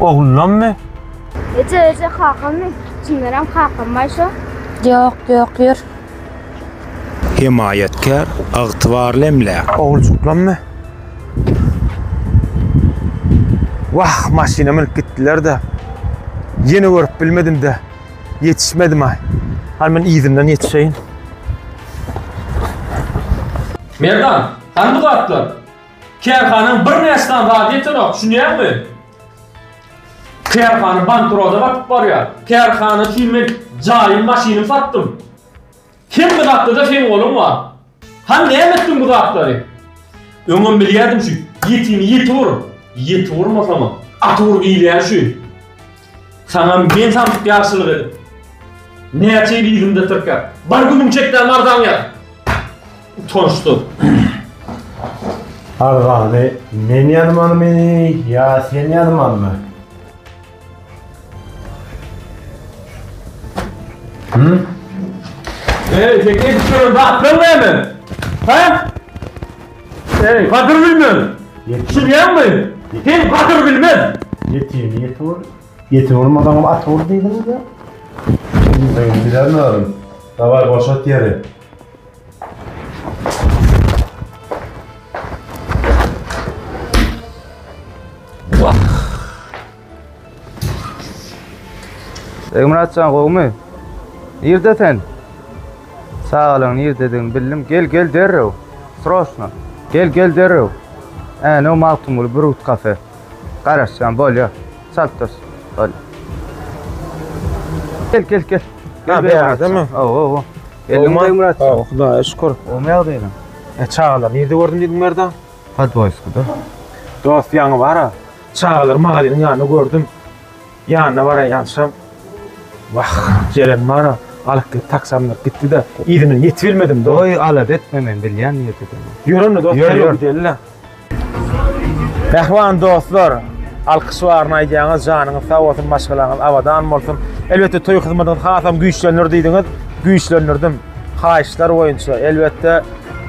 Ogullammy? Eje eje kakammy? Çyndanam kakam baý şo? Ýok, ýok, ýör. Hemaýatkär, ygtybarly emläk. Oguljyklammy? Wah, maşyna münüp gitdiler-de. Ýene görüp bilmedim-de, ýetişmedim-aý. Hany men yzyndan ýetişeýin. Merdan, hany bu zatlar? Kärhanaň birnäçe sany zady ýetenok, düşünýäňmi? Kärhana bankrota batyp barýar. Kärhana üçin men jaýym, maşynym satdym. Hemme zatda-da seň goluň bar. Hany näme etdiň bu zatlary? Öňem bilýärdim şu ýetimi ýetir, ýetir urmasaňam, atyr diýilýän şu. Saňam men samsyk ýagşylyk edip. Näçe ýyl yzymda tirkäp. Bir günüň çekdäm arzaň ýaz. Utançdan. Arzany men ýazmalymy ýa sen ýazmalymy? Hı? Ey, tek edip şöyle rahatlan deme. Ha? Eý, gadyr bilmez! Ýetişilýäňmi? Sen gadyr bilmez! Ýetişene ýeti bol, ýeti bolmasaňam at bol diýdiňiz ýa? Bilmeýin, bilemzaryn. Dawaý, boşat ýeri. Egmyratjan gowmy? Nirde sen? Çagalyň nirdedigini bildim. Gel, gel derrew. Sroşno. Gel, gel derrew. Änew Magtymguly Brut kafe. Garaşýan bolýa. Çalt dur. Bol. Gel, gel, gel. Ha, beýärdemi? Aw, aw, aw. Geldim Egmyratjan. Aw, Hudaýa şükür. Gowmy ýagdaýyň? E, çagalar nirde gördüm diýdiň Merdan? Podwoýskoda. Dost ýaňy bar-a. Çagalary Marynyň ýanynda gördüm. Ýanyna baraýýançam, Wah, jeren bar-a, alyp gidip taksamdyr. Gitdi-de, yzyndan ýetibilmedim, dost. Goý, alada etme, men bilýän niýetini. Ýör onda, dost, derrew gideli-le. Mähriban dostlar, alkyş baryny aýdýaňyz, janyňyz sag bolsun, maşgalaňyz abadan bolsun. Elbetde, toý hyzmadyňyz hasam güýçlenir diýdiňiz, güýçlendirdim. Haýyşlar boýunça elbetde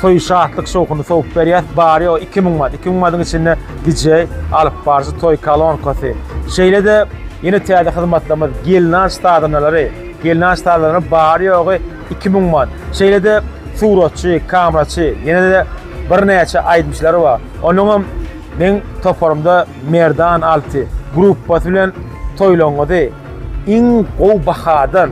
toý şatlyk şowhuny sowup berýäs. Bary ýogy 2000 manat. 2000 manatyň içinde DJ, alyp baryjy, toý kolonkasy. Şeýle-de ýene täze hyzmatlarymyz gelnaç sazanalary. Gelnaç sazanalary bary ýogy 2000 manat. Şeýle-de suratçy, kameraçy, ýene-de birnäçe aýdymçylar bar. Onuň hem meň toparymda Merdan Alty gruppasy bilen toýlaryňyzy Iň gowy bahadan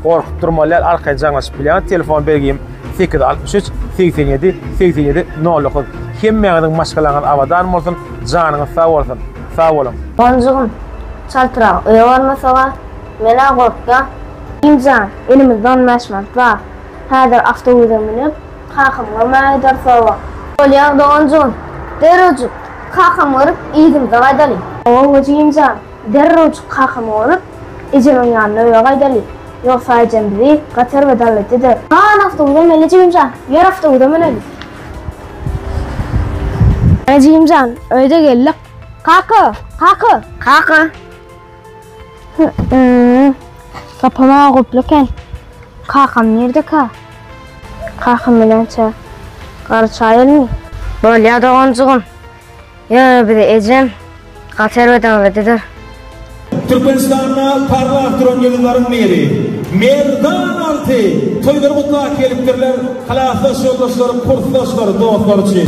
gorkup durmalyar arkaýyn jaňlaşyp bilýän telefon bergim 863 87 87 09 hemmäňiziň maşgalaňyz abadan bolsun janyňyz sag bolsun sag boluň. Gonjygym, çaltrak öýe barmasaga, men-ä gorkýan. Inim jan, elimizde on bäş manat bar. Häzir awtobusa münüp, kakamyň öýüne gidersowa. Bolýar doganjygym, derrewjik kakamy görüp, yzymyza gaýdalyň. Hawa, Gojiginjan. Derrewjik kakamy görüp, ejemiň ýanyna öýe gaýdaly. Ýogsa ejem bizi gaty erbet-al etdi-de. Hany awtobusa mende jigim jan, ýör awtobusa müneli. Hany jigim jan, öýde geldik. Kaka! Kaka! Kaka! Hy-ýy, gapam aýa guply eken. Kakam nirdekä? Kakam bilen-çä, garçy aýylmy? Bolýa doganjygym. Ýöne bize ejem gaty erbet aňladydyr. Türkmenistanda parlap duran ýyldyzlaryň biri Merdan Alty toýlary gutlap gelipdirler klasdaş ýoldaşlary, kursdaşlary, dostlary üçin.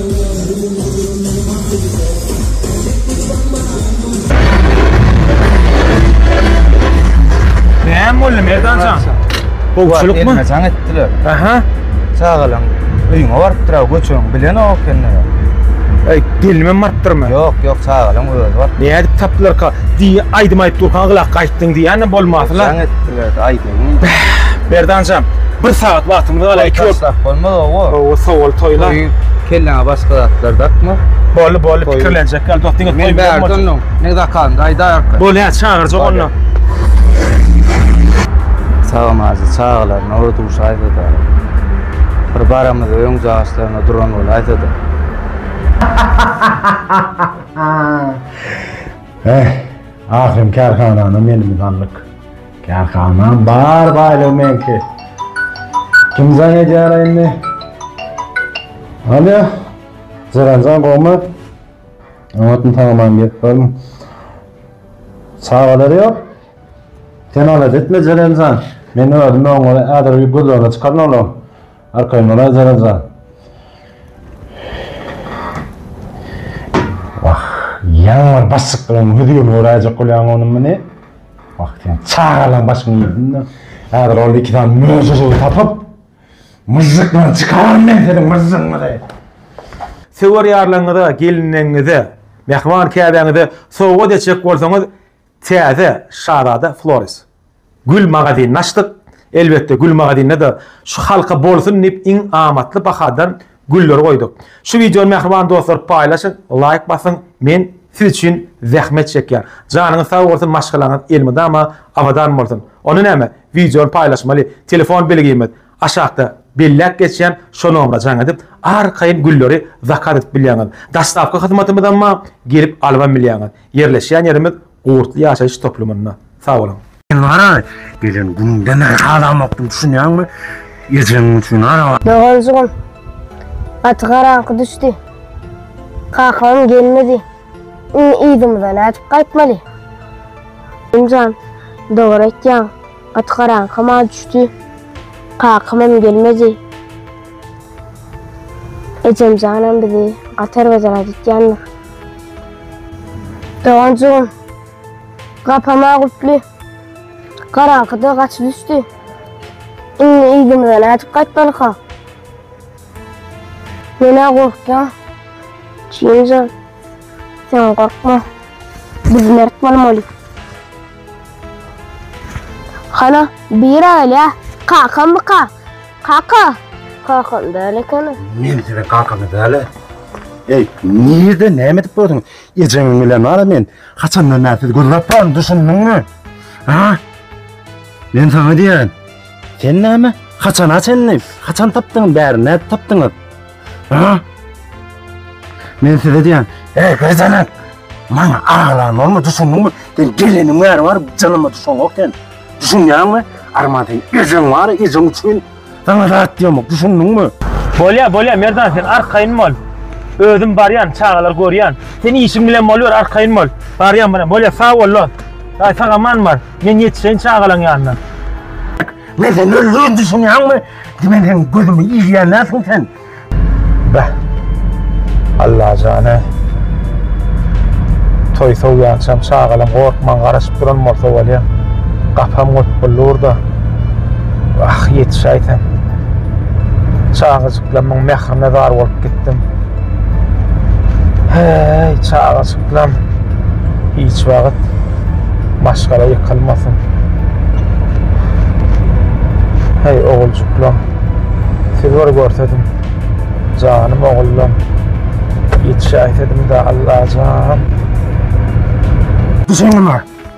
Näme boldy Merdanjan? Gowçulykmy? Gelme jaň etdiler. Aha. Çagalaň öýüňe barypdyr, göçüň bilen ok ekende. Ey, gelmem barpdyrmy? Ýok, ýok, çagalaň özi bar. Nädip tapdylarka? Diý, aýdym aýdyp durkan gylak gaýtdyň diýýän bolmasylar. Jaň etdiler, aýdym Merdanjan, bir sagat wagtymyz galar, iki ol. Taşlap bolmaz owo. Owo, sowul toýla. Toýuň kelläňe başga zatlar dakma. Boldy, boldy, pikirlenjek ýaly dost, diňe toý bilen bolsun. Men ne zakalymda aýdarka. Bol ýa, çagyrjak onda. Sagamajy çagalaryna ora duşa aýda-da. Bir baramyz öň jaşlaryna duran bol aýda-da. Eh, ahyryn kärhanany menimiz aldyk. Kärhanam bar baýlygy meňki. Kim jaň edýär indi? Alo. Jaranjan gowmy? Oňatmy tanamam gelip barmy? Çagalary ýok. Sen alat etme Jaranjan. Men özüm oňa häzir bir gözlegine çykaryn olam. Arkaýmalar zaraza. Wah, ýaňy başyk bilen hüzi ýol göräýjek bolýaň onuň meni. Wah, sen çagalan başyňy ýediň-de. Häzir ol iki sany möjegi tapyp, myžžyk bilen çykararyn men seniň myžžygyňyzy. Söwer ýarlaryňyza, gelinleňňize, mähriban käbäňize sowgat etjek bolsaňyz, täze şazada Flores. Gül magazynyny açdyk. Elbetde, gül magazynda-da şu halka bolsun diýip iň amatly bahadan gülleri goýduk. Şu wideony mähriban dostlar paýlaşyň, laýk basyň, men siz üçin zähmet çekýän. Janyňyz sag bolsun, maşgalaňyz elmydama abadan bolsun. Onda näme, wideony paýlaşmaly, telefon belgimiz aşakda belläp geçýän şo nomera jaň edip, arkaýyn gülleri zakaz edip bilýäňiz. Daşdapky hyzmatymyzam bar, gelip alybam bilýäňiz. Ýerleşýän ýerimiz Gurtly ýaşaýyş toplumynda. Sag boluň. Diňara gelen günüňden bäri halamokdym düşünýäňmi ejeň üçin araba. Doganjygym gaty garaňky düşdi. Kakamam gelmedi. Indi yzymyza nädip gaýtmaly? Elimjan dogry aýtýaň gaty garaňkama düşdi. Kakamam gelmedi. Ejemjanam bizi gaty erbet ýaladýandyr. Doganjygym gapama gutly garaňkyda gaçyp düşdi. Indi ýüzümize nädip gaýtmalyka? Menä gorkýan. Çinje, sen gorkma. Biz mert bolmaly. Hana, bira gelýä. Kakamyka? Kaka. Kakam däl ekeni. Men seni kakamy däl. Ey, nirde näme edip gördün? Ejeňiň bilen bar men. Haçandan näme siz gözläp baryn, düşündüňmi? Ha? Men sana diýen. Sen näme? Haçana çenli? Haçan tapdyň bäri? Näde tapdyňyz? Ha? Men size diýen, ey gözene, maňa aglan bolma, düşündiňmi? Sen geleniň bäri bar, janyma düşünok sen. Düşünýäňmi? Arman sen ejeň bar, ejeň üçin sana zat diýemok, düşündiňmi? Bolýa, bolýa, Merdan sen arkaýyn bol. Özüm barýan, çagalar görýän. Sen işiň bilen boluber, arkaýyn bol. Barýan bilen, bolýa, sag bol, lo. Aý, sag aman bar. Men ýetişeýin çagalaň ýanyna. Men sen öldürin düşünýän mi? Dimen sen gözümi ýiýýän näsin sen? Bä. Allah jana. Toý soýýançam çagalam gorkman garaşyp duran bolsa bolýa. Gapam gotup bulurda. Ah, ýetişäýsem. Çagajyklarymyň mährine zar bolup gitdim. Heý, çagajyklam hiç wagt maşgala ýykylmasyn. Heý, oguljyklam, siz bir görsediň, janym ogullam, ýetişäýsediň-dä, Allajan! Düşündimmi?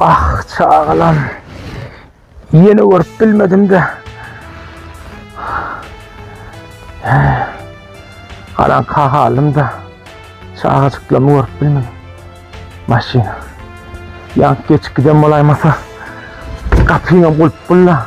Ah çagalam. Ýene görüp bilmedim de. Galan kahalym da. Çagajyklamy görüp bilmedim. Maşyna. Ýank geçip giden bolaýmasa. Gapyňam gulp bulla.